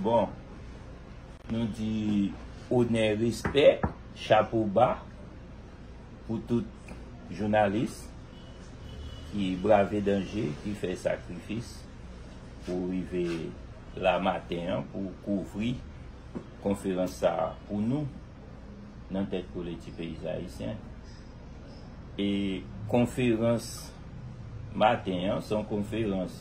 Bon Nou di onè respè chapo ba pou tout jounalis ki brave danje ki fè sakrifis pou rive la maten an pou kouvri konferans sa pou nou nan tèt kole ti peyiz ayisyen e konferans maten an son konferans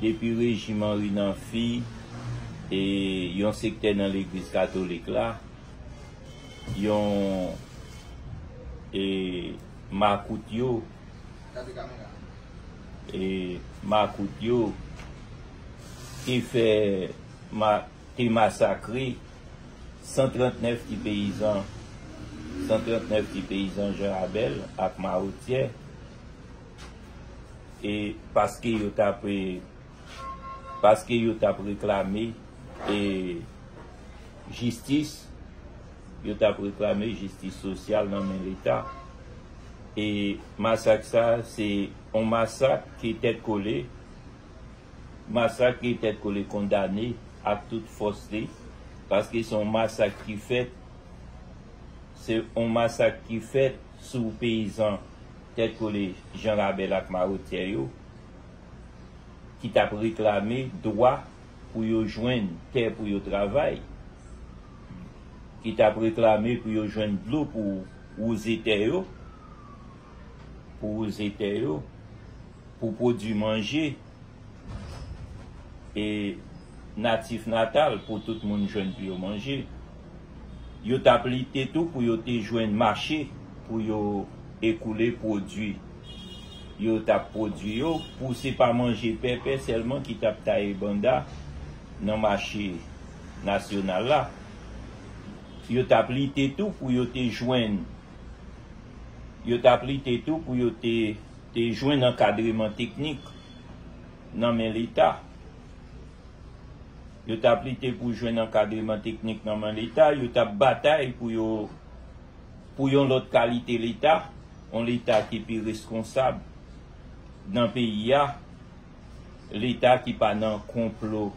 Depi rejim Anri nan fi e yon sektè nan legliz katolik la, yon e makout yo e makout yo te fè ma te masakre 139 ti peyizan 139 ti peyizan Jan Abèl ak Mawotyè. e paske yo t ap e paske yo t ap reklame e jistis yo t ap reklame jistis sosyal nan men leta e masak sa se yon masak ki tèt kole masak ki tèt kole kondane ak tout fòs li paske se yon masak ki fèt se yon masak ki fèt sou peyizan. Tèt kole Jan Rabèl ak Mawotyè yo ki t ap reklame dwa pou yo jwenn tè pou yo travay, ki t ap reklame pou yo jwenn dlo pou wouze tè yo, pou wouze tè yo, pou pwodui manje. e natif natal pou tout moun jwenn pou yo manje. Yo tap lite tou pou yo te jwenn mache pou yo ekoule pwodui yo tap pwodui yo pou se pa manje pèpè sèlman ki tap taye banda nan mache nasyonal la. Yo tap lite tou pou yo te jwenn yo tap lite tou pou yo te. te jwenn ankadreman teknik nan men leta yo tap lite pou jwenn ankadreman teknik nan men leta yo tap batay pou yo pou yon lòt kalite leta yon leta ki pi reskonsab nan peyi a. Leta ki pa nan konplo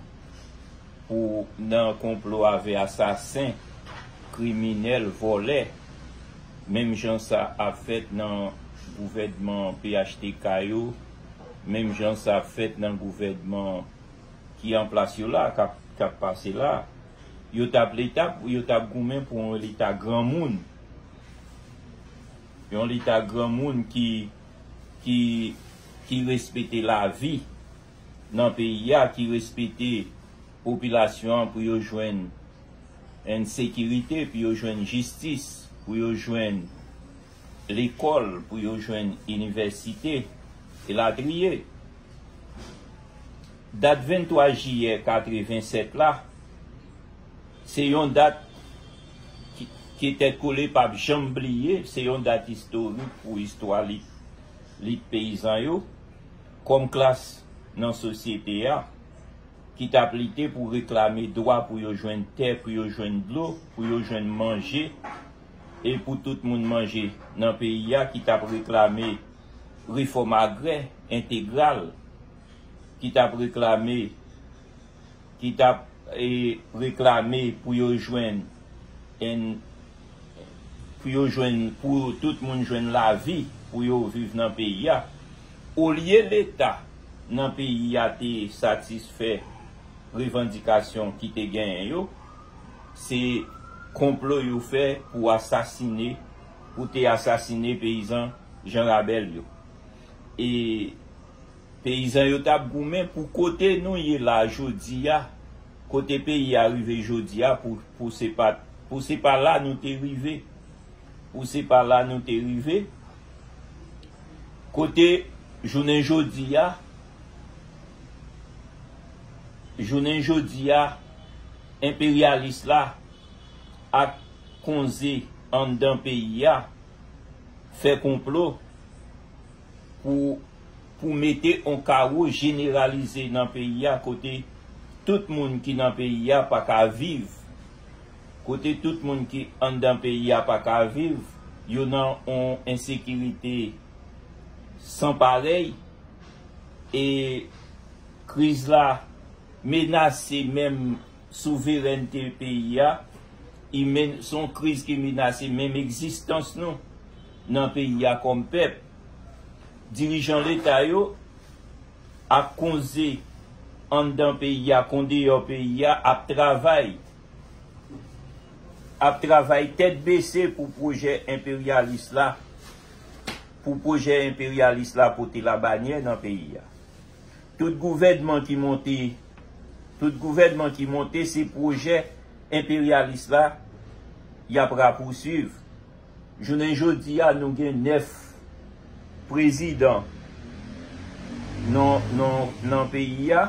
pou nan konplo avè asasen, kriminèl, vòlè, menm jan sa ap fèt nan gouvènman phtk yo, menm jan sa ap fèt nan gouvènman ki an plas yo la, k ap pase la. Yo t ap leta, yo t ap goumen pou yon leta granmoun. yon leta granmoun ki ki ki respete lavi nan peyi a ki respete popilasyon an pou yo jwenn en sekirite pou yo jwenn jistis pou yo jwenn lekòl pou yo jwenn inivèsite elatriye dat 23 jiyè 87 la. Se yon dat ke Tèt Kole p ap janm bliye. Se yon dat istorik pou istwa lit peyizan yo kòm klas nan sosyete a ki t ap lite pou reklame dwa pou yo jwenn tè, pou yo jwenn dlo, pou yo jwenn manje e pou tout moun manje nan peyi a, ki t ap reklame refòm agrè entegral, ki t ap reklame. ki tap reklame pou yo jwenn en pou yo jwenn pou tout moun jwenn lavi pou yo viv nan peyi a olye leta nan peyi a te satisfè revandikasyon ki te genyen yo se konplo yo fè pou asasine pou te asasine peyizan Jan Rabèl yo e. Peyizan yo tap goumen pou kote nou ye la jodia kote peyi a rive jodia pou pou se pa pou se pa la nou te rive pou se pa la nou te rive kote jounen jodia jounen jodia enperyalis la ak konze anndan peyi a fè konplo pou pou mete on kawo jeneralize nan peyi a kote tout moun ki nan peyi a pa ka viv kote tout moun ki anndan peyi a pa ka viv yo nan on ensekirite san parèy e kriz la menase menm souverènte peyi a i men son kriz ki menase menm egzistans nou. nan peyi a kòm pèp. Dirijan leta yo ak konze anndan peyi a kon deyò peyi a ap travay ap travay tèt bese pou pwojè enperyalis la pou pwojè enperyalis la pote labanyè nan peyi a. Tout gouvènman ki monte tout gouvènman ki monte se pwojè enperyalis la y ap rapousuiv. Jounen jodi a nou gen 9 prezidan nan peyi a.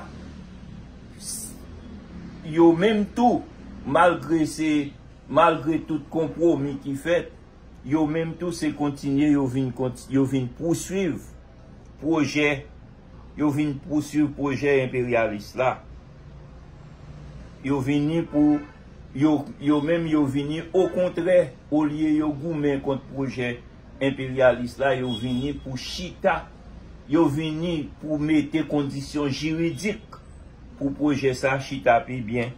Yo menm tou malgre se malgre tout konpwomi ki fèt, yo menm tou se kontinye yo vin yo vin pouswiv pwojè yo vin pouswiv pwojè enperyalis la. Yo vini pou Yo, yo menm yo vini okontrè, olye yo goumen kont pwojè enperyalis la, yo vini pou chita, yo vini pou mete kondisyon jiridik pou pwojè sa chita pi byen,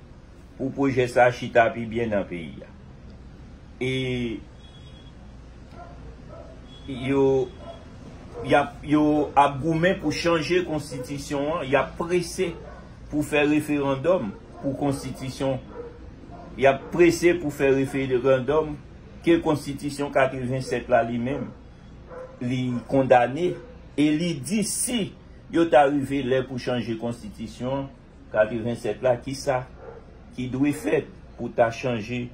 pou pwojè sa chita pi byen nan peyi a. E yo, y ap, yo ap goumen pou chanje konstitisyon an, y ap prese pou fè referandòm. pou konstitisyon yap prese pou fè referandòm ke konstitisyon 87 la li menm li kondane e li di si yo ta rive lè pou chanje konstitisyon 87 la kisa ki dwe fèt pou ta chanje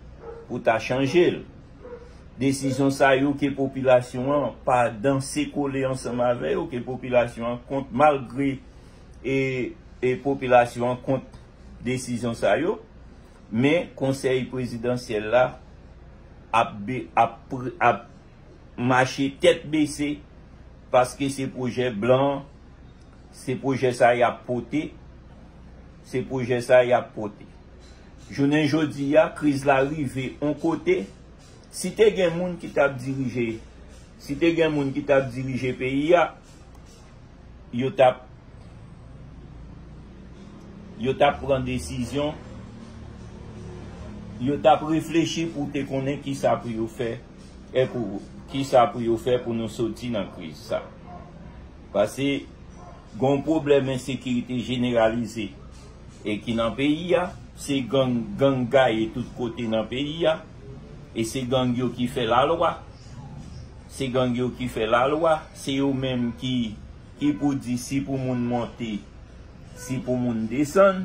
pou ta chanjel desizyon sa yo ke popilasyon an pa danse kole ansanm avè yo ke popilasyon an kont malgre e popilasyon an kont desizyon sa yo, men konsèy prezidansyèl la ap mache tèt bese paske se pwojè blan, se pwojè sa y ap pote, se pwojè sa y ap pote. Jounen jodi a, kriz la rive yon kote, si te gen moun ki t ap dirije, si te gen moun ki t ap dirije peyi a, yo tap yo tap pran desizyon yo tap reflechi pou te konnen ki sa pou yo fè e pou ki sa pou yo fè pou nou soti nan kriz sa pase gon pwoblèm ensekirite jeneralize e ki nan peyi a se gang gang gaye tout kote nan peyi a. E se gang yo ki fè la lwa. Se gang yo ki fè la lwa. Se yo menm ki ki pou di si pou moun monte, si pou moun desann.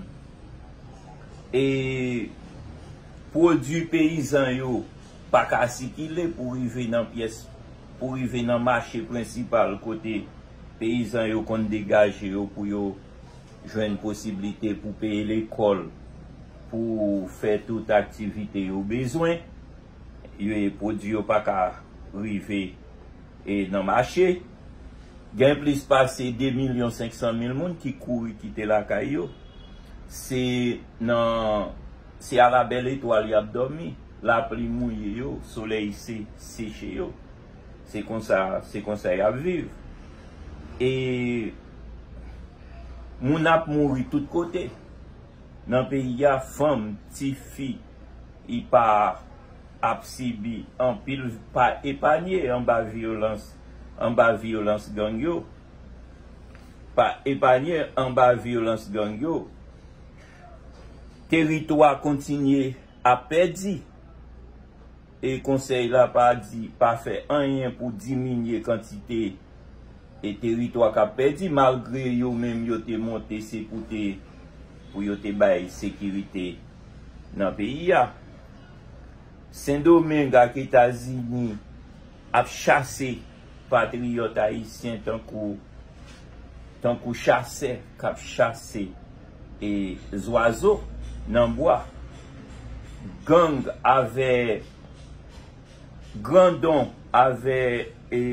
E pwodui peyizan yo pa ka sikile pou rive nan pyès, pou rive nan mache prensipal kote peyizan yo konn degaje yo pou yo. Jwenn posiblite pou peye lekòl, pou fè tout aktivite yo bezwen. Pwodui yo pa ka rive nan mache. Gen plis pase 2 milyon 500 mil moun ki kouri kite lakay yo. Se nan se a la bèl etwal y ap dòmi. Lapli mouye yo, solèy seche yo. Se konsa, se konsa yap viv. E moun ap mouri tout kote nan peyi a, fanm, tifi e pa ap sibi anpil, pa epanye anba vyolans, anba vyolans gang yo, pa epanye anba vyolans gang yo. Teritwa kontinye ap pèdi. e Konsèy la pa di pa fè anyen pou diminye kantite e teritwa k ap pèdi malgre yo menm yo te monte se pou te pou yo te bay sekirite nan peyi a. Sendomeng ak Etazini ap chase. Patriyòt ayisyen tankou tankou chasè k ap chase e zwazo nan bwa. Gang avè grandon avè e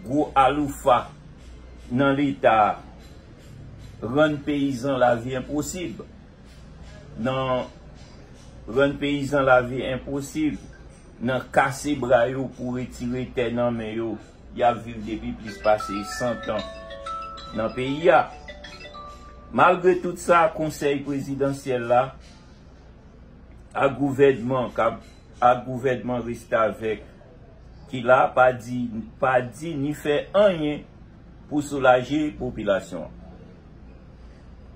gwo aloufa nan leta rann peyizan lavi enposib. nan rann peyizan lavi enposib, nan kase bra yo pou retire tè nan men yo, y ap viv depi plis pase 100 tan nan peyi a. Malgre tout sa, Konsèy Prezidansyèl la ak gouvènman k ap ak gouvènman restavèk ki la pa di pa di ni fè anyen pou soulaje popilasyon an.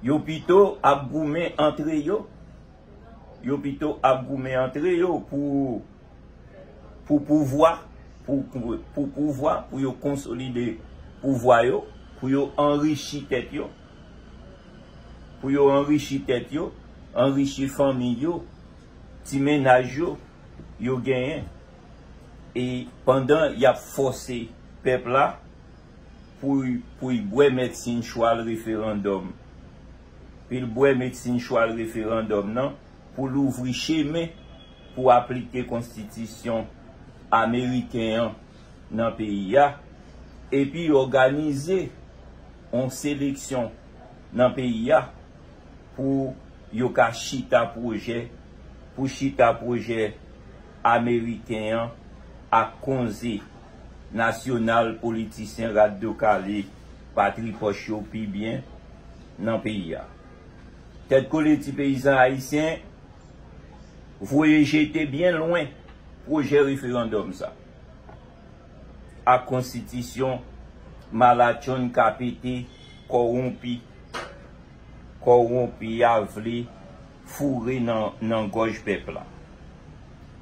Yo pito ap goumen antre yo, yo pito ap goumen antre yo pou pou pouvwa, pou pou pouvwa, pou yo konsolide pouvwa yo, pou yo anrichi tèt yo, pou yo anrichi tèt yo, anrichi fanmi yo, ti mennaj yo, yo genyen. E pandan y ap fòse pèp la Pou y bwè medsin chwal referandòm Pou l bwè medsin chwal referandòm nan pou l ouvri chemen pou aplike konstitisyon ameriken an nan peyi a epi òganize yon seleksyon nan peyi a pou yo ka chita pwojè pou chita pwojè ameriken an ak konze nasyonal politisyen rat do kale patripòch yo pi byen nan peyi a. Tèt kole ti peyizan ayisyen voye jete byen lwen pwojè referandòm sa ak konstitisyon malatchonn ka pete kowonpi kowonpi a vle foure nan nan gòj pèp la.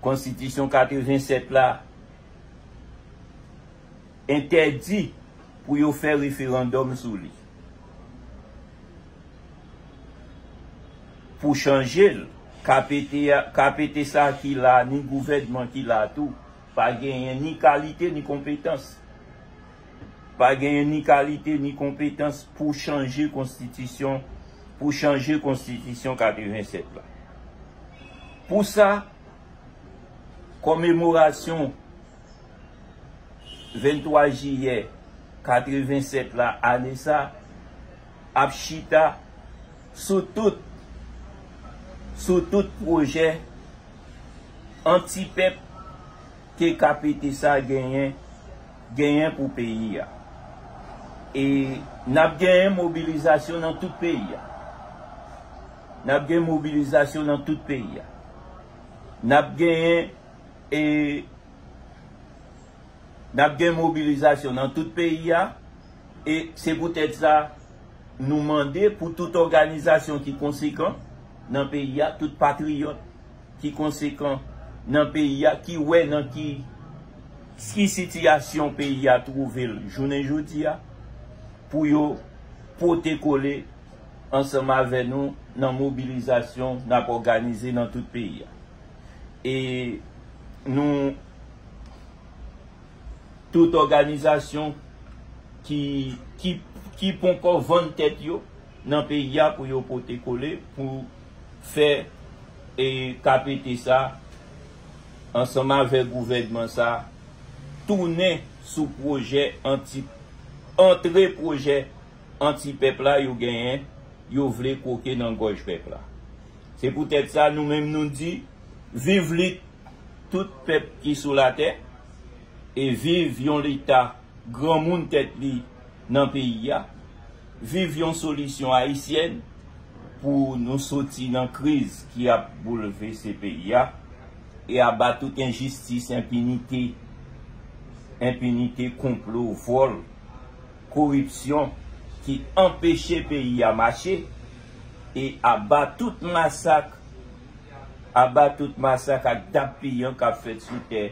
Konstitisyon 87 la entèdi pou yo fè referandòm sou li pou chanje l. KPT a, KPT sa ki la a ni gouvènman ki la a tou pa genyen ni kalite ni konpetans, pa genyen ni kalite ni konpetans pou chanje konstitisyon pou chanje konstitisyon 87 la. Pou sa, komemorasyon 23 jiyè 87 la ane sa ap chita sou tout sou tout pwojè anti-pèp, TKPT sa genyen genyen pou peyi a. E nap genyen mobilizasyon nan tout peyi a. Nap gen mobilizasyon nan tout peyi a. Nap genyen e nap gen mobilizasyon nan tout peyi a e se pou tèt sa nou mande pou tout òganizasyon ki konsekan nan peyi a, tout patriyòt. ki konsekan nan peyi a ki wè nan ki sitiyasyon peyi a twouve l jounen jodi a pou yo pote kole ansanm avè nou nan mobilizasyon n ap òganize nan tout peyi a e nou tout òganizasyon ki ponkò vann tèt yo nan peyi a pou yo pote kole pou fè e kapete sa ansanm avèk gouvènman sa tounen sou pwojè anti antre pwojè anti pèp la yo genyen yo vle kwoke nan gòj pèp la se pou tèt sa nou menm nou di viv lit tout pèp ki sou latè e viv yon leta granmoun tèt li nan peyi a, viv yon solisyon ayisyèn pou nou soti nan kriz ki ap boulvese peyi a e aba tout enjistis, enpinite, enpinite, konplo, vòl, koripsyon ki anpeche peyi a mache e aba tout masak, aba tout masak ak dap piyan k ap fèt sou tè.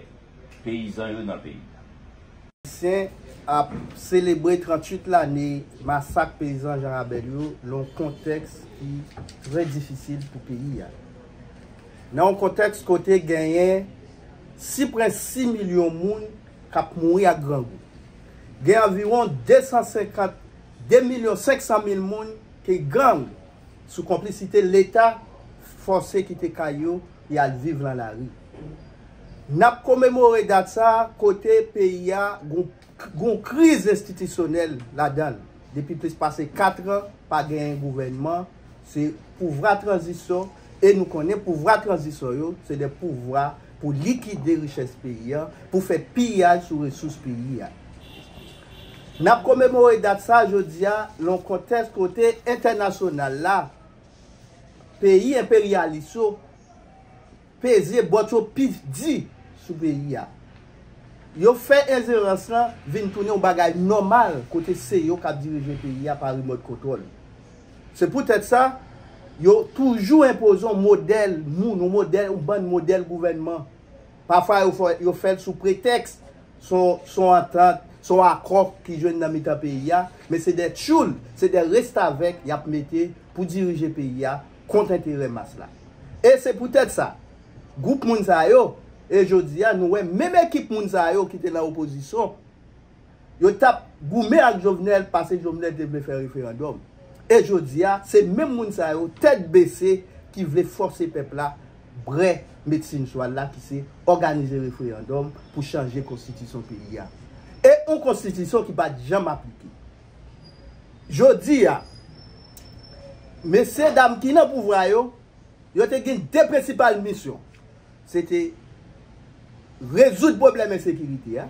peyizan yo nan peyi a. Ayisyen ap selebre 38 lane masak peyizan Janrabèl yo nan yon kontèks ki trè difisil pou peyi a. Nan yon kontèks kote genyen si pre 6 milyon moun k ap mouri ak grangou. Gen anviwon 250, 2 milyon 500 mil moun ke gang sou konplisite Leta fòse kite kay yo e al viv lan lari. N ap komemore dat sa a kote peyi a gon kriz enstitisyonèl ladan l depi plis pase 4 an pa genyen gouvènman se pouvra tranzisyon e nou konnen pouvra tranzisyon yo se de pouvra pou likide richès peyi a pou fè piyaj sou resous peyi a. N ap komemore dat sa a jodi a lan kontèks kote entènasyonal la Peyi enperyalis yo peze bòt yo pi di sou peyi a. Yo fè enjerans lan vin tounen yon bagay nòmal kote se yo k ap dirije peyi a pa rimòt kontwòl. Se poutèt sa, yo toujou enpoze yon modèl moun, yon bann modèl gouvènman. Pafwa yo fè l sou pretèks Se yon antant, se yon akò ki jwenn nan mitan peyi a, men se de tchoul, se de restavèk y ap mete pou dirije peyi a kont enterè mas la. E se poutèt sa, gwoup moun sa yo, e jodi a nou wè menm ekip moun sa yo ki te nan opozisyon, yo t ap goumen ak Jovenel pase Jovenel te vle fè referandòm. E jodi a, se menm moun sa yo, tèt bese, ki vle fòse pèp la brè medsin swal la ki se òganize referandòm pou chanje konstitison peyi a. E yon konstitison ki pat janm aplike. Jodi a, mesye dam ki nan pouvwa yo, yo te gen 2 prensipal misyon. Se te rezoud pwoblèm ensekirite a,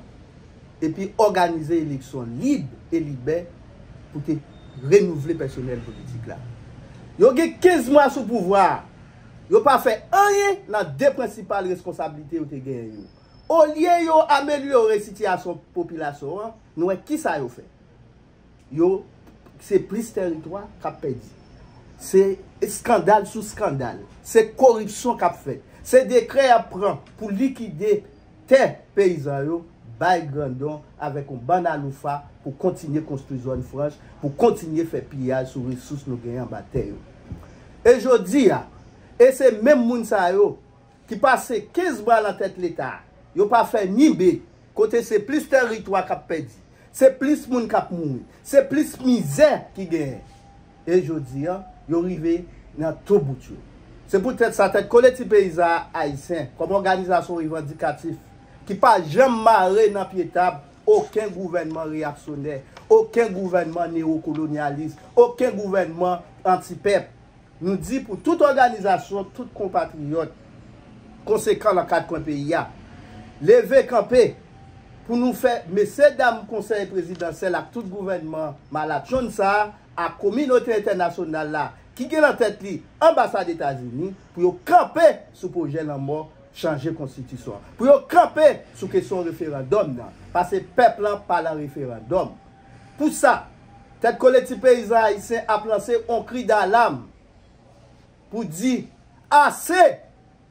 epi òganize eleksyon lib e libè pou te renouvle pèsonèl politik la. Yo gen 15 mwa sou pouvwa a. Yo pa fè anyen nan de prensipal reskonsablite yo te genyen yo. Olye yo amelyore sitiyasyon popilasyon an, nou wè ki sa yo fè. Yo Se plis tèritwa k ap pèdi. Se eskandal sou eskandal. Se koripsyon k ap fèt. Se dekrè y ap pran pou likide. tè peyizan yo bay grandon avèk yon bann aloufa pou kontinye konstwi zòn franch, pou kontinye fè piyaj sou resous nou genyen anba tè yo. E jodi a, e se menm moun sa yo ki pase 15 mwa lan tèt Leta, yo pa fè ni be, kote se plis tèritwa k ap pèdi, se plis moun k ap mouri, se plis mizè ki genyen. e jodi an, yo rive nan tou bout yo. Se poutèt sa, Tèt Kole Ti Peyizan Ayisyen, kòm òganizasyon revandikatif ki pa janm mare nan pye tab oken gouvènman reyaksyonè, oken gouvènman newokolonyalis, oken gouvènman antipèp, nou di pou tout òganizasyon, tout konpatriyòt konsekan nan kat kwen peyi a, leve kanpe pou nou fè mesyedam Konsèy Prezidansyèl ak tout gouvènman malatchonn sa a, ak kominote entènasyonal la ki gen nan tèt li anbasad Etazini pou yo kanpe sou pwojè lanmò chanje konstitisyon an, pou yo kanpe sou kesyon referandòm nan, pase pèp lan pa lan referandòm. Pou sa, Tèt Kole Ti Peyizan Ayisyen ap lanse on kri dalam pou di ase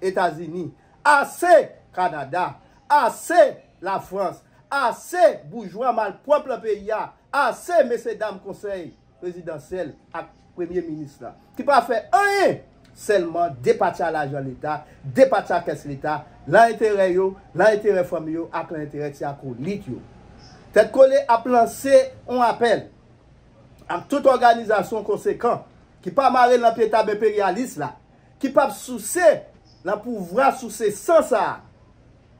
Etazini, ase Kanada, ase Lafrans, ase boujwa malpwòp lan peyi a Ase mesye dam konsèy prezidansyèl ak premye minis la ki pa fè anyen sèlman depatcha lajan leta, depatcha kès leta lan enterè yo, lan enterè fanmi yo ak lan enterè ti akolit yo. Tèt Kole ap lanse on apèl ak tout òganizasyon konsekan ki pa mare lan pye tab enperyalis la, ki pap souse lan pouvwa souse san sa a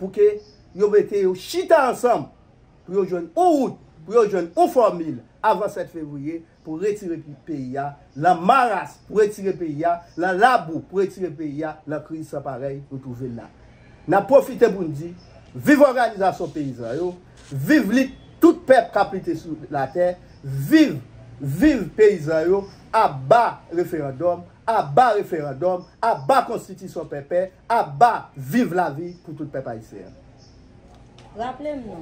pou ke yo mete yo chita ansanm. pou yo jwenn yon wout, pou yo jwenn yon fòmil avan 7 fevriye pou retire peyi a lan maras, pou retire peyi a lan labou, pou retire peyi a lan kriz san parèy nou twouve l la. N ap pwofite pou n di, viv òganizasyon peyizan yo, viv lit tout pèp k ap lite sou latè, viv, viv peyizan yo, aba referandòm, aba referandòm, aba konstitisyon pèpè, aba viv lavi pou tout pèp ayisyen an. Raple m non,